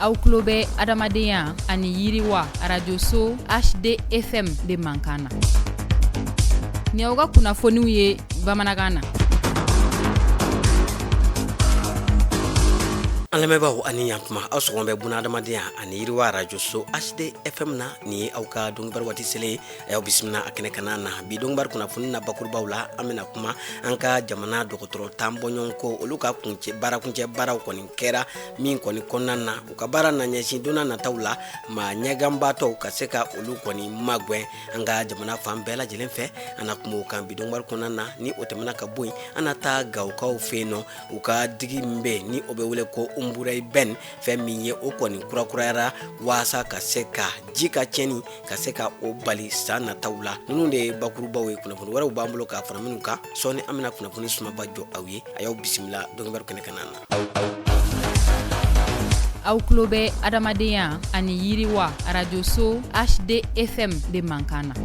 aw tulo bɛ adamadenya ani yiriwa arajoso hdfm de mankan na ni aw ka kunnafoniw ye bamanankan na an lamɛnbaaw ani ɲatuma aw sɔgɔma bɛ buna adamadenya ani yiriwa arajoso hdfm na ni aw ka donkibaru waati selen a y'aw bisimila a kɛnɛ kana na bi donkibaru kunnafoni na bakurubaw la an bɛna kuma an ka jamana dɔgɔtɔrɔ tan bɔɲɔgɔnko olu ka kun baarakuncɛ baaraw kɔni kɛra min kɔni kɔnɔna na u ka baara na ɲɛsin donna nataw la maa ɲɛganbaatɔw ka se ka olu kɔni magɛn an ka jamana fan bɛɛ lajɛlen fɛ an na kuma o kan bi donkibaru kɔnɔna na ni o tɛmɛna ka bɔ yen an na taa gawokaw fɛ yen nɔ u ka digi min bɛ ni o bɛ wele ko umburayi bɛn fɛn min ye o kɔni kurakurayara waasa ka se ka ji ka cɛnni ka se ka o bali san nataw la ninnu de ye bakurubaw ye kunnafoni wɛrɛw b'an bolo ka fara ninnu kan sɔɔni an bɛna kunnafoni sumaba jɔ aw ye a y'aw bisimila donkibaru kɛnɛ kana na aw tulo bɛ adamadenya ani yiriwa arajoso hdfm de mankan na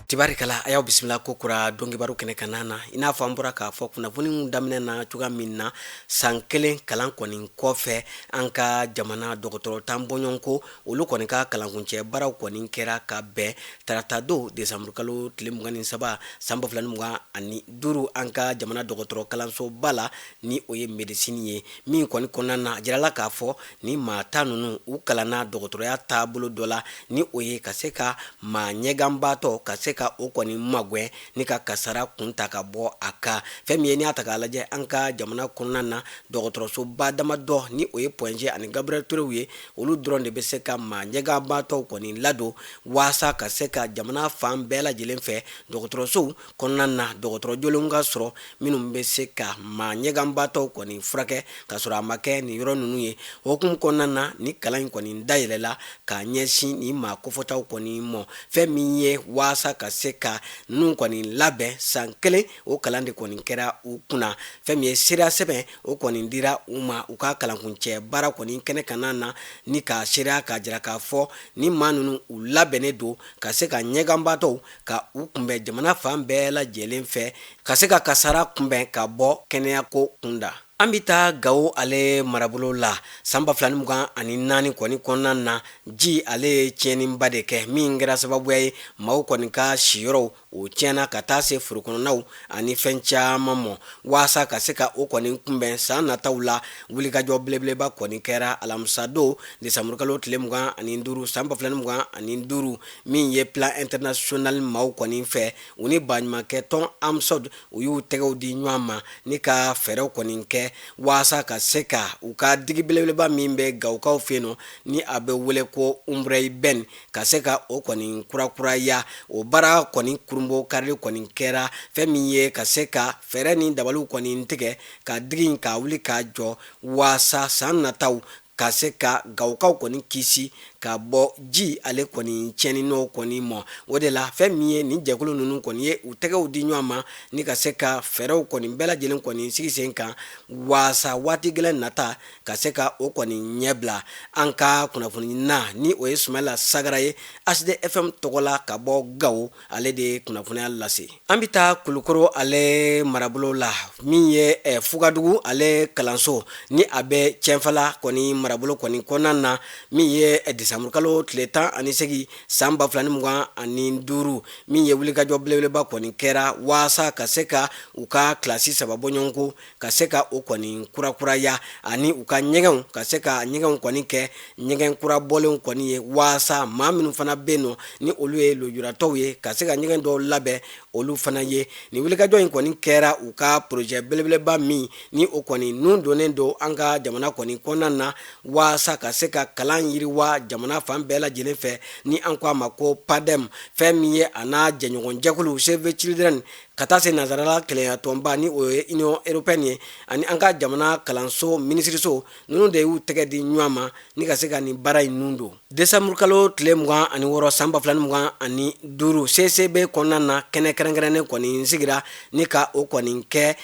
tibarikala a y'aw bisimila kokura donkibaru kɛnɛ kana na i n'a fɔ an bɔra k'a fɔ kunnafoniw daminɛ na cogoya min na san kelen kalan kɔni kɔfɛ an ka jamana dɔgɔtɔrɔ tan bɔɲɔgɔnko olu kɔni ka kalankuncɛ baaraw kɔni kɛra ka bɛn tarata don desanburukalo tile mugan ni saba san ba fila ni mugan ani duuru an ka jamana dɔgɔtɔrɔ kalansoba la ni o ye medisini ye min kɔni kɔnɔna na a jirala k'a fɔ ni maa tan ninnu u kalanna dɔgɔtɔrɔya taabolo dɔ la ni o ye ka se ka maa ɲɛganbaatɔ ka se ka o kɔni magwɛn ni ka kasara kun ta ka bɔ a kan fɛn min ye n'i y'a ta k'a lajɛ an ka jamana kɔnɔna na dɔgɔtɔrɔsoba damadɔ ni o ye point g ani gabriel turew ye olu dɔrɔn de bɛ se ka maa ɲɛganbaatɔw kɔni ladon waasa ka se ka jamana fan bɛɛ lajɛlen fɛ dɔgɔtɔrɔsow kɔnɔna na dɔgɔtɔrɔ jolenw ka sɔrɔ minnu bɛ se ka maa ɲɛganbaatɔw kɔni furakɛ ka sɔrɔ a ma kɛ nin yɔrɔ ninnu ye o hukumu kɔnɔna na ni kalan in kɔni dayɛlɛla ka ɲɛsin ni maa kofɔtaw kɔni ma fɛn min ye waasa ka se ka ninnu kɔni labɛn san kelen o kalan de kɔni kɛra u kunna fɛn min ye seereya sɛbɛn o kɔni dira u ma u ka kalankuncɛ baara kɔni kɛnɛ kana na ni k'a seereya k'a jira k'a fɔ ni maa ninnu u labɛnnen don ka se ka ɲɛganbaatɔw ka u kunbɛn jamana fan bɛɛ lajɛlen fɛ ka se ka kasara kunbɛn ka bɔ kɛnɛyako kunda an bɛ taa gawo ale marabolo la san ba fila ni mugan ani naani kɔni kɔnɔna na ji ale ye tiɲɛniba de kɛ min kɛra sababuya ye maaw kɔni ka siyɔrɔw o tiɲɛna ka taa se forokɔnɔnaw ani fɛn caman mɔ waasa ka se ka o kɔni kunbɛn san nataw la wulikajɔ belebeleba kɔni kɛra alamisadon desanburukalo tile mugan ani duuru san ba fila ni mugan ani duuru min ye plan international maaw kɔni fɛ u ni baɲumankɛ tɔn amsod u y'u tɛgɛw di ɲɔgɔn ma ni ka fɛɛrɛw kɔni kɛ waasa ka se ka u ka digi belebeleba min bɛ gawukaw fɛ yen nɔ ni a bɛ wele ko umbrɛyi bɛn ka se ka o kɔni kurakuraya o baara kɔni kurunbokarili kɔni kɛra fɛn min ye ka se ka fɛɛrɛ ni dabaliw kɔni tigɛ ka digi in ka wuli k'a jɔ waasa san nataw ka se ka gawukaw kɔni kisi ka bɔ ji ale kɔni tiɲɛni n'o kɔni mɔ o de la fɛn min ye nin jɛkulu ninnu kɔni ye u tɛgɛw di ɲɔgɔn ma ni ka se ka fɛɛrɛw kɔni bɛɛ lajɛlen kɔni sigi sen kan waasa waati gɛlɛn nata ka se ka o kɔni ɲɛbila an ka kunnafoni na ni o ye sumayila sagara ye asd fm tɔgɔ la ka bɔ gawo ale de ye kunnafoniya lase an bɛ taa kulukoro ale marabolo la min ye eh, fugadugu ale kalanso ni a bɛ cɛnfala kɔni marabolo kɔni kɔnɔna na min ye eh, desanburukalo tile tan ani segin san ba fila ni mugan ani duuru min ye wulikajɔ belebeleba kɔni kɛra waasa ka se ka u ka kilasi saba bɔɲɔgɔnko ka se ka o kɔni kurakuraya ani u ka ɲɛgɛnw ka se ka ɲɛgɛnw kɔni kɛ ɲɛgɛn kura bɔlenw kɔni ye waasa maa minnu fana bɛ yen nɔ ni olu ye lujuratɔw ye ka se ka ɲɛgɛn dɔw labɛn olu fana ye nin wulikajɔ in kɔni kɛra u ka porozɛ belebeleba min ni o kɔni nun donnen don an ka jamana kɔni kɔnɔna na waasa ka se ka kalan yiriwa jamana fan bɛɛ lajɛlen fɛ ni an ko a ma ko padem fɛn min ye a n'a jɛɲɔgɔnjɛkulu save the children ka taa se nanzsarala kɛlɛya tɔnba ni o ye union européenne ye ani an ka jamana kalanso minisiriso ninnu de y'u tɛgɛ di ɲɔgɔn ma ni ka se ka nin baara in nun don desanburukalo tile mugan ani wɔɔrɔ san ba fila ni mugan ani duuru cicb kɔnɔna na kɛnɛ kɛrɛnkɛrɛnnen kɔni sigira ni ka o kɔni kɛ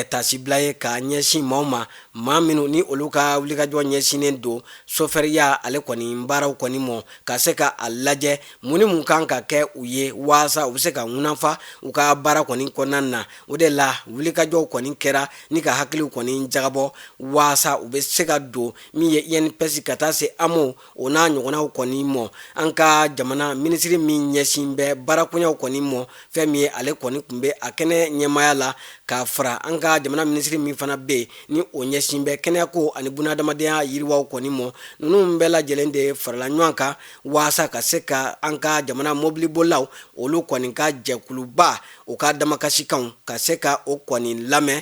tasibila ye ka ɲɛsin maaw ma maa minnu ni olu ka wulikajɔ ɲɛsinnen don sofɛriya ale kɔni baaraw kɔni mɔ ka se ka a lajɛ mun ni mun kan ka kɛ u ye waasa u bɛ se ka ŋunafa u ka baara kɔni kɔnɔna na o de la wulikajɔw kɔni kɛra ni ka hakiliw kɔni jagabɔ waasa u bɛ se ka don min ye inps ka taa se amo o n'a ɲɔgɔnnaw kɔni mɔ an ka jamana minisiri min ɲɛsin bɛ baarakoɲaw kɔni mɔ fɛn min ye ale kɔni tun bɛ a kɛnɛ ɲɛmaya la ka fara an ka jamana minisiri min fana bɛ yen ni o ɲɛsin bɛ kɛnɛyako ani bunaadamadenya yiriwaw kɔni mɔ ninnu bɛɛ lajɛlen de farala ɲɔgɔn kan waasa ka se ka an ka jamana mobilibolaw olu kɔni ka jɛkuluba u ka damakasikanw ka se ka o kɔni lamɛn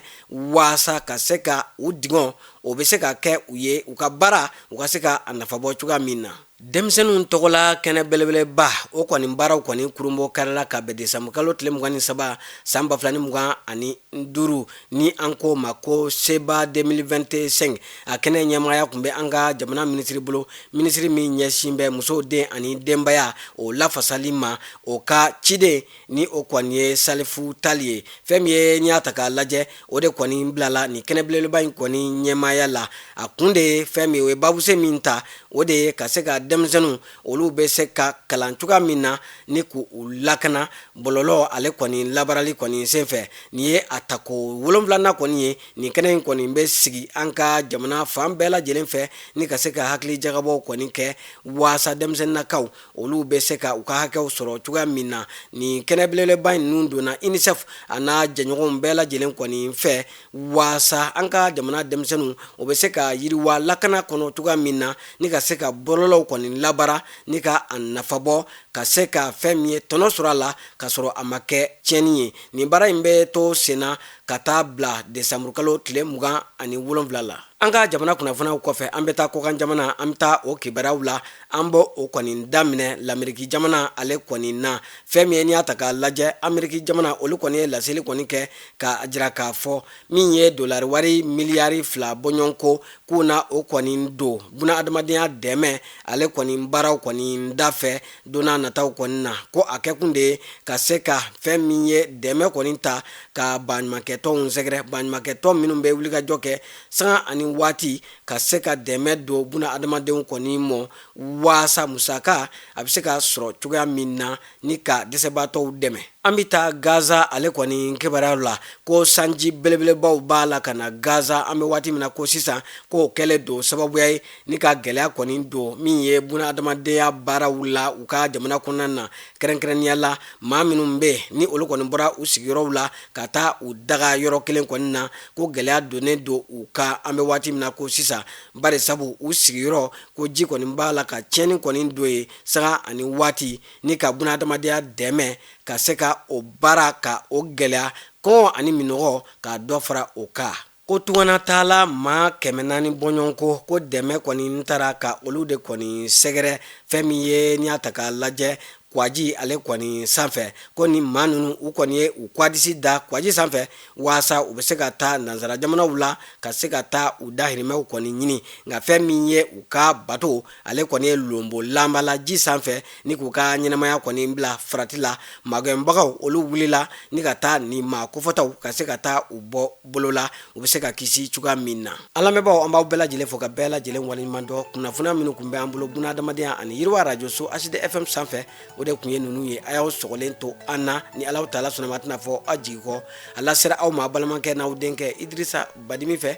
waasa ka se ka u dungɔ o bɛ se ka kɛ u ye u ka baara u ka se ka a nafa bɔ cogoya min na denmisɛnninw tɔgɔla kɛnɛ belebeleba o kɔni baaraw kɔni kurunbonkarila ka bɛn desanburukalo tile mugan ni saba san ba fila ni mugan ani duuru ni an k'o ma ko seba 2025 a kɛnɛ ɲɛmaaya tun bɛ an ka jamana minisiri bolo minisiri min ɲɛsin bɛ musow den ani denbaya o lafasali ma o ka ciden ni o kɔni ye Salifu Tali ye fɛn min ye n'i y'a ta k'a lajɛ o de kɔni bilala ni kɛnɛ belebeleba in kɔni ɲɛmaaya la a kun de ye fɛn min o ye babuse min ta o de ye ka se ka denmisɛnninw olu bɛ se ka kalan cogoya min na ni k' u lakana bɔlɔlɔ ale kɔni labarali kɔni senfɛ nin ye a tako wolonwulanan kɔni ye nin kɛnɛ in kɔni bɛ sigi an ka jamana fan bɛɛ lajɛlen fɛ ni ka se ka hakilijagabɔw kɔni kɛ waasa denmisɛnninakaw olu bɛ se ka u ka hakɛw sɔrɔ cogoya min na nin kɛnɛ belebeleba in ninnu donna UNICEF a n'a jɛɲɔgɔnw bɛɛ lajɛlen kɔni fɛ waasa an ka jamana denmisɛnninw o bɛ se ka yiriwa lakana kɔnɔ cogoya min na ni ka se ka bɔlɔlɔw kɔni labara ni ka a nafabɔ ka se ka fɛn min ye tɔnɔ sɔrɔ a la ka sɔrɔ a ma kɛ tiɲɛni ye nin baara in bɛ to senna ka taa bila desanburukalo tile mugan ani wolonwula la an ka jamana kunnafoniw kɔfɛ an bɛ taa kɔkan jamana an bɛ taa o kibaruyaw la an bɛ o kɔni daminɛ Lameriki jamana ale kɔni na fɛn min ye n'i y'a ta k'a lajɛ Ameriki jamana olu kɔni ye laseli kɔni kɛ k'a jira k'a fɔ min ye dolari wari miliyari fila bɔɲɔgɔnko k'u na o kɔni don buna adamadenya dɛmɛ ale kɔni baaraw kɔni dafɛ don nataw kɔni na ko a kɛkun de ye ka se ka fɛn min ye dɛmɛ kɔni ta ka baɲumankɛtɔnw sɛgɛrɛ baɲumankɛtɔn minnu bɛ wulikajɔ kɛ sanga ani waati ka se ka dɛmɛ don buna adamadenw kɔni ma waasa musaka a bɛ se ka sɔrɔ cogoya min na ni ka dɛsɛbaatɔw dɛmɛ an bɛ taa gaza ale kɔni kibaruyaw la ko sanji belebelebaw b'a la ka na gaza an bɛ waati min na ko sisan k'o kɛlen don sababuya ye ni ka gɛlɛya kɔni don min ye buna adamadenya baaraw la u ka jamana kɔnɔna na kɛrɛnkɛrɛnnenya la maa minnu bɛ yen ni olu kɔni bɔra u sigiyɔrɔw la ka taa u daga yɔrɔ kelen kɔni na ko gɛlɛya donnen don u kan an bɛ waati min na ko sisan bari sabu u sigiyɔrɔ ko ji kɔni b'a la ka tiɲɛni kɔni don yen sanga ani waati ni ka buna adamadenya dɛmɛ ka se ka o baara ka o gɛlɛya kɔngɔ ani minɔgɔ ka dɔ fara o kan ko tunganataala maa kɛmɛ naani bɔɲɔgɔnko ko dɛmɛ kɔni taara ka olu de kɔni sɛgɛrɛ fɛn min ye n'i y'a ta k'a lajɛ kwaji ale kɔni sanfɛ ko ni maa ninnu u kɔni ye u kwadisi da kwaji sanfɛ waasa u bɛ se ka taa nansara jamanaw la ka se ka taa u dahirimɛw kɔni ɲini nka fɛn min ye u ka bato ale kɔni ye lonbolanba la ji sanfɛ ni k'u ka ɲɛnamaya kɔni bila farati la magɛnbagaw olu wulila ni ka taa nin maa kofɔtaw ka se ka taa u bɔ bolo la u bɛ se ka kisi cogoya min na an lamɛnbagaw an b'aw bɛɛ lajɛlen fo ka bɛɛ lajɛlen waleɲumandɔn kunnafoniya minnu kun bɛ an bolo buna adamadenya ani yiriwa arajoso hd fm sanfɛ o de kun ye ninnu ye a y'aw sɔgɔlen to an na ni alahu taala sɔnna a ma tɛna fɔ aw jigi kɔ a lasera aw ma balimakɛ n'aw denkɛ idirisa badimi fɛ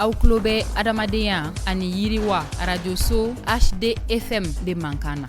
aw tulo bɛ adamadenya ani yiriwa arajoso hd fm de mankan na